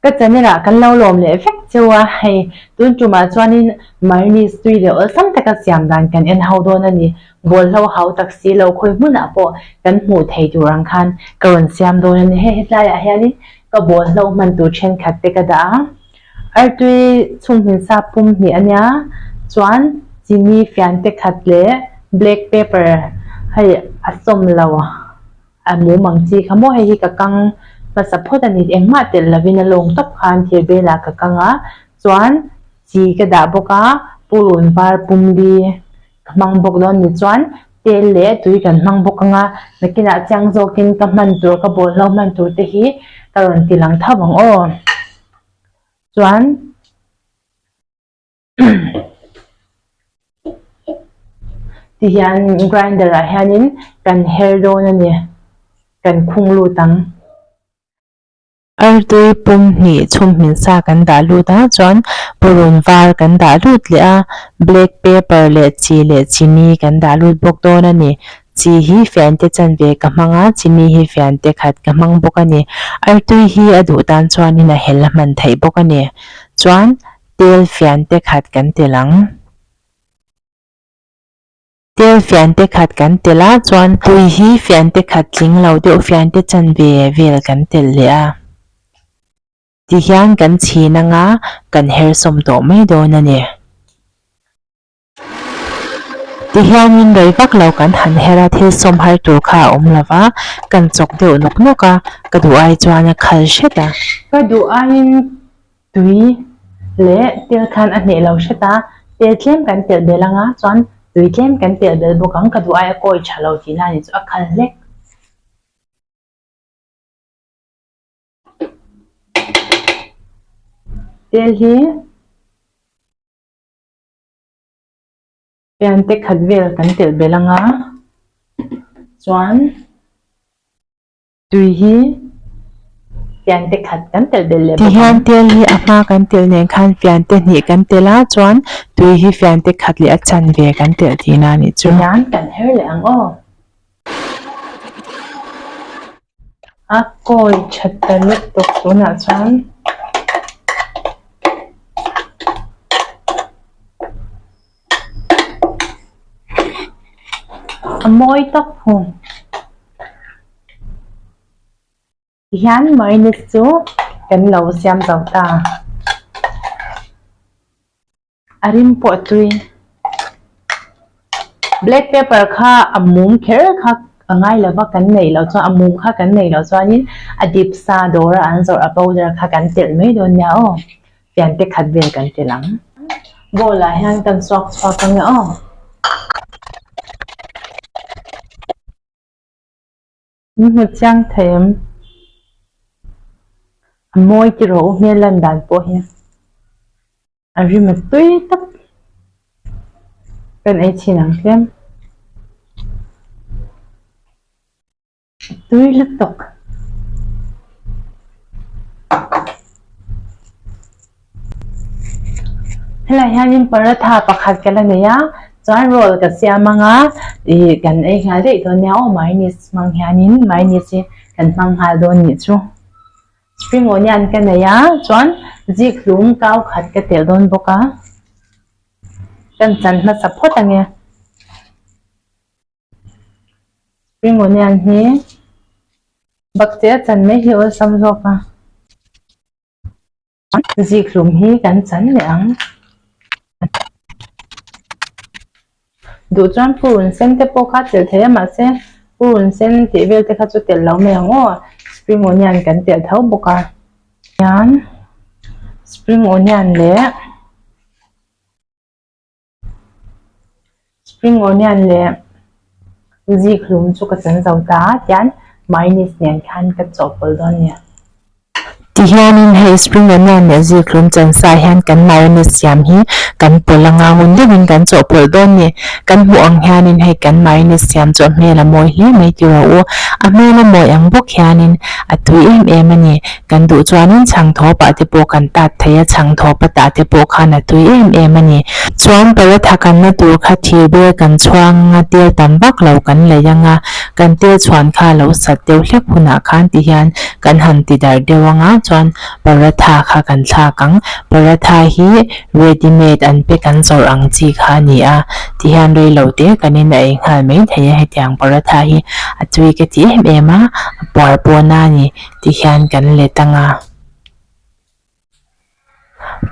Ka channel ah kan lo lawm leh vek cheu a, hei tun tum ah chuanin Marinese tui leh awlh tam taka siam dan kan en ho dawn a ni, bawlhlo hau tak si lo khawi hmun ah pawh kan hmuh theih tur ang khan ka rawn siam dawn a ni, hei hetlai ah hianin ka bawlhlo hman tur thenkhat te ka dah a, Artui chunghmil sa pum hnih ania chuan chini fian te khat leh black pepper hei a sawm lo a mum ang chi kha maw hei hi ka kang hmasa phawt a ni engmah telh lovin a lawng tawp khan thir belah ka kang a chuan chi ka dah bawk a purun var pum li ka hmang bawk lo ani chuan tel leh tui kan hmang bawk ang a nakinah chiang zawkin ka hman tur ka bawlhhlawh hman tur te hi ka rawn ti lang tho ang aw. chuan tihian grinder ah hianin kan her dawn a ni kan khung lut ang artui pum hnih chhunghmin sa kan dah lut a chuan purun var kan dah lut leh a black paper leh chi leh chini kan dah lut bawk dawn a ni. Chi hi Fiante chanve ka hmang a, chimi hi Fiante khat ka hmang bawk a ni. Artui hi a duh tan chuanin a hel a hman theih bawk a ni. Chuan Tel Fiante khat kan tel ang. Tel Fiante khat kan tel a, chuan Tui hi Fiante khat tling lo deuh Fiante chanve vel kan tel leh a. Tihian kan chhin anga kan her sawm tawh mai dawn a ni. Tihianin rei vak lo kan han her a, thil sawm har tur kha a awm lo va, kan chawk deuh nawk nawk a, ka duh ai chuan a khal hret a. Ka duh aiin tui leh tel khan a hneh lo hret a, tel tlem kan pelh belh anga chuan tui tlem kan pelh belh bawk ang, ka duh ai a kawi tha lo tih na nih chu a khal hlek. Tel hi. Fiante khat vel kan telh belh anga chuan tui hi fiante khat kan telh belh leh bawk ang. Tihian tel hi a hma kan telh nen khan fiante hnih kan telh a chuan tui hi fiante khat leh a chan ve kan telh tihna a nih chu. Tihian kan her leh ang aw. a kawi tha ta lutuk tunah chuan a mawi tak fung hian mayonnaise chu kan lo siam zo ta. A rim pawh chui. Black pepper kha a mum kher kha a ngai lo va, kan neih loh chuan a mum kha kan neih loh chuanin a dip sa dawra an zawrh a powder kha kan telh mai dawn nia aw. Fian te khat vel kan telh ang. Bowl ah hian kan chhuak chhuak ang aw. Min hmu chiang thei em? A mawi tiraw u hmel lan dan pawh hi a rim a tui tak. Kan ei chin ang hlem. Tui lutuk. Helaiah hianin paratha pakhat ka la nei a, chuan roll ka siam ang a, ih kan ei nghal daih dawn nia, aw mayonnaise hmang hianin mayonnaise hi kan hmang nghal dawn nih chu. Spring onion ka nei a, chuan zikhlum kau khat ka telh dawn bawk a, kan chan hmasa phawt ang e. Spring onion hi bakcheh a chan mai hi awlsam zawk a. Zikhlum hi kan chan leh ang. Duh chuan purun sen te pawh kha telh thei a mahse purun sen tih vel te kha chu telh lo mai ang aw spring onion kan telh tho bawk a chuan spring onion leh-- Spring onion leh zikhlum chu ka chan zo ta a, tian mayonnaise nen khan ka chawhpawlh dawn nia. Ti hianin hei spring onion leh zikhlum chan sa hian kan mayonnaise siam hi kan pawlh a, ngangun deuhin kan chawhpawlh dawn ni. Kan hmuh ang hianin hei kan mayonnaise siam chu a hmel a mawi hle mai tih rawh u. A hmel a mawi ang bawk hianin a tui em em a ni. Kan duh chuanin chhang thawpa te pawh kan tat thei a, chhang thawpa tah te pawh khan a tui em em a ni. Chuan paratha kanna tur kha thir ber kan chhuak anga tel tam vak lo kan laih anga, kan tel chhuan kha lo sat deuh hlek hunah khan ti hian kan han ti darh deuh anga chuan paratha kha kan thlak ang. Paratha hi ready made an pack an zawrh ang chi kha a ni a, ti hian reilo te kanin a ei nghal mai thei a, hetiang paratha hi a tui ka ti em em a, a puar pawna a ni. tih hian kan let ang a.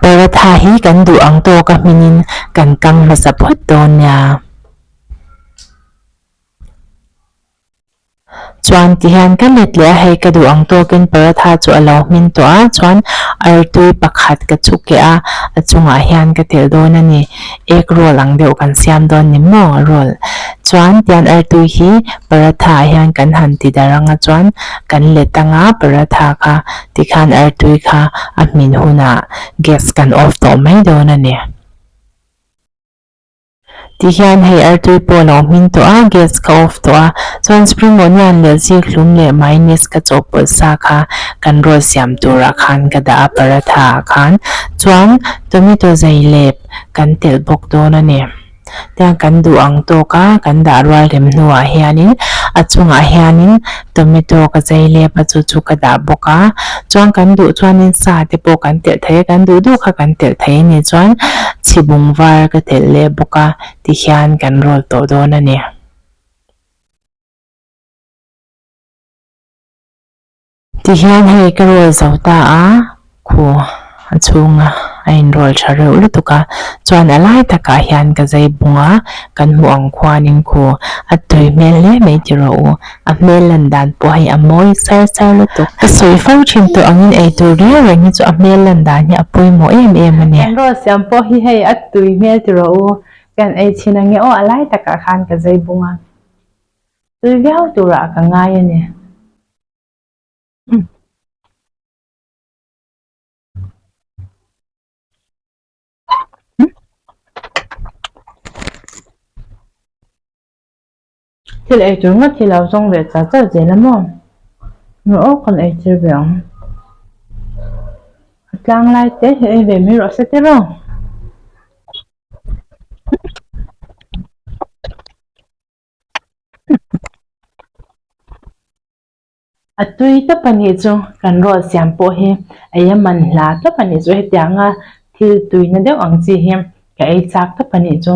Paratha hi kan duh ang tawk a hmingin kan kang hmasa phawt dawn nia. Chuan ti hian ka let leh a hei ka duh ang tawkin paratha chu a lo hmin tawh a chuan artui pakhat ka chhu keh a, a chungah hian ka telh dawn a ni. Egg roll ang deuh kan siam dawn ni maw roll chuan tian artu hi paratha ah hian kan han ti dar anga chuan kan let anga paratha kha tikhan artui kha a hmin hunah gas kan off tawh mai dawn a ni. Tihian hei artui pawh alo hmin tawh a gas ka off tawh a chuan spring onion leh zikhlum leh mayonnaise ka chawhpawlh sa kha kan roll siam turah khan ka dah a paratha ah khan chuan tomato zai leh kan telh bawk dawn a ni. Tiang kan duh ang tawk a, kan dah rual rem hnuah hianin a chungah hianin tomato ka zai lep a, chu chu ka dah bawk a, chuan kan duh chuanin sa te pawh kan telh thei a, kan duh duh kha kan telh thei a ni chuan chhibung var ka telh leh bawk a tikhian kan rawl tawh dawn a ni. Ti hian hei ka rawl zo ta a, khu a chhunga a in rawl tha reuh lutuk a, chuan a lai takah hian ka zei bung a, kan hmuh ang khuanin khu a tui hmel hle mai ti rawh u, a hmel lan dan pawh hei a mawi sar sar lutuk. Ka sawi fo thin tawh angin eitur riau reng hi chu a hmel lan dan hi a pawimawh em em a ni. Kan rawl siam pawh hi hei a tui hmel ti rawh u, ka in ei chhin ange aw, a lai takah khan ka zei bung a, tui viau turah ka ngai a ni. Thil ei tur ngat hi lo zawng ve char char zel a maw? Ru aw kan ei tir ve ang. A tlang lai te hi ei ve mai rawh se tir aw. a tui tawp a nih chu kan ruat siam pawh hi eia man hla tawp a nih chu heti ang a thil tui na deuh ang chi hi ka ei chak tawp a nih chu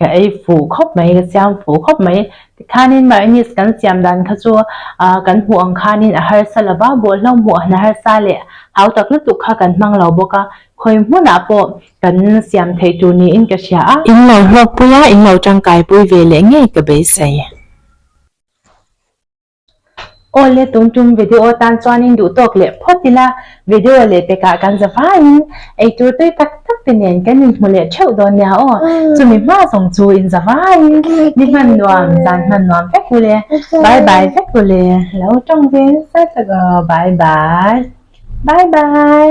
ka ei fuh khawp mai ka siam fuh khawp mai tikhan in mah English kan siam dan kha chu a kan hmuh ang khan in a harsa lo va bawlhhlawm hmuh han harsa leh hautak lutuk kha kan hmang lo bawk a khawi hmunah pawh Kan siam theih tur niin ka hria a. In lo hlawkpui a, in lo tangkaipui ve leh ngei ka beisei. Aw le tum tum, video tan chuanin duh tawk leh phawt ila, video leh pekah kan za vain eitur tui tak tak te nen kan in hmu leh theuh dawn nia aw, chumi hma zawng chu in za vain ni hman nuam zan hman nuam vek u le, bye bye vek u le, lo tawng ve nasa tak aw, bye bye, bye bye.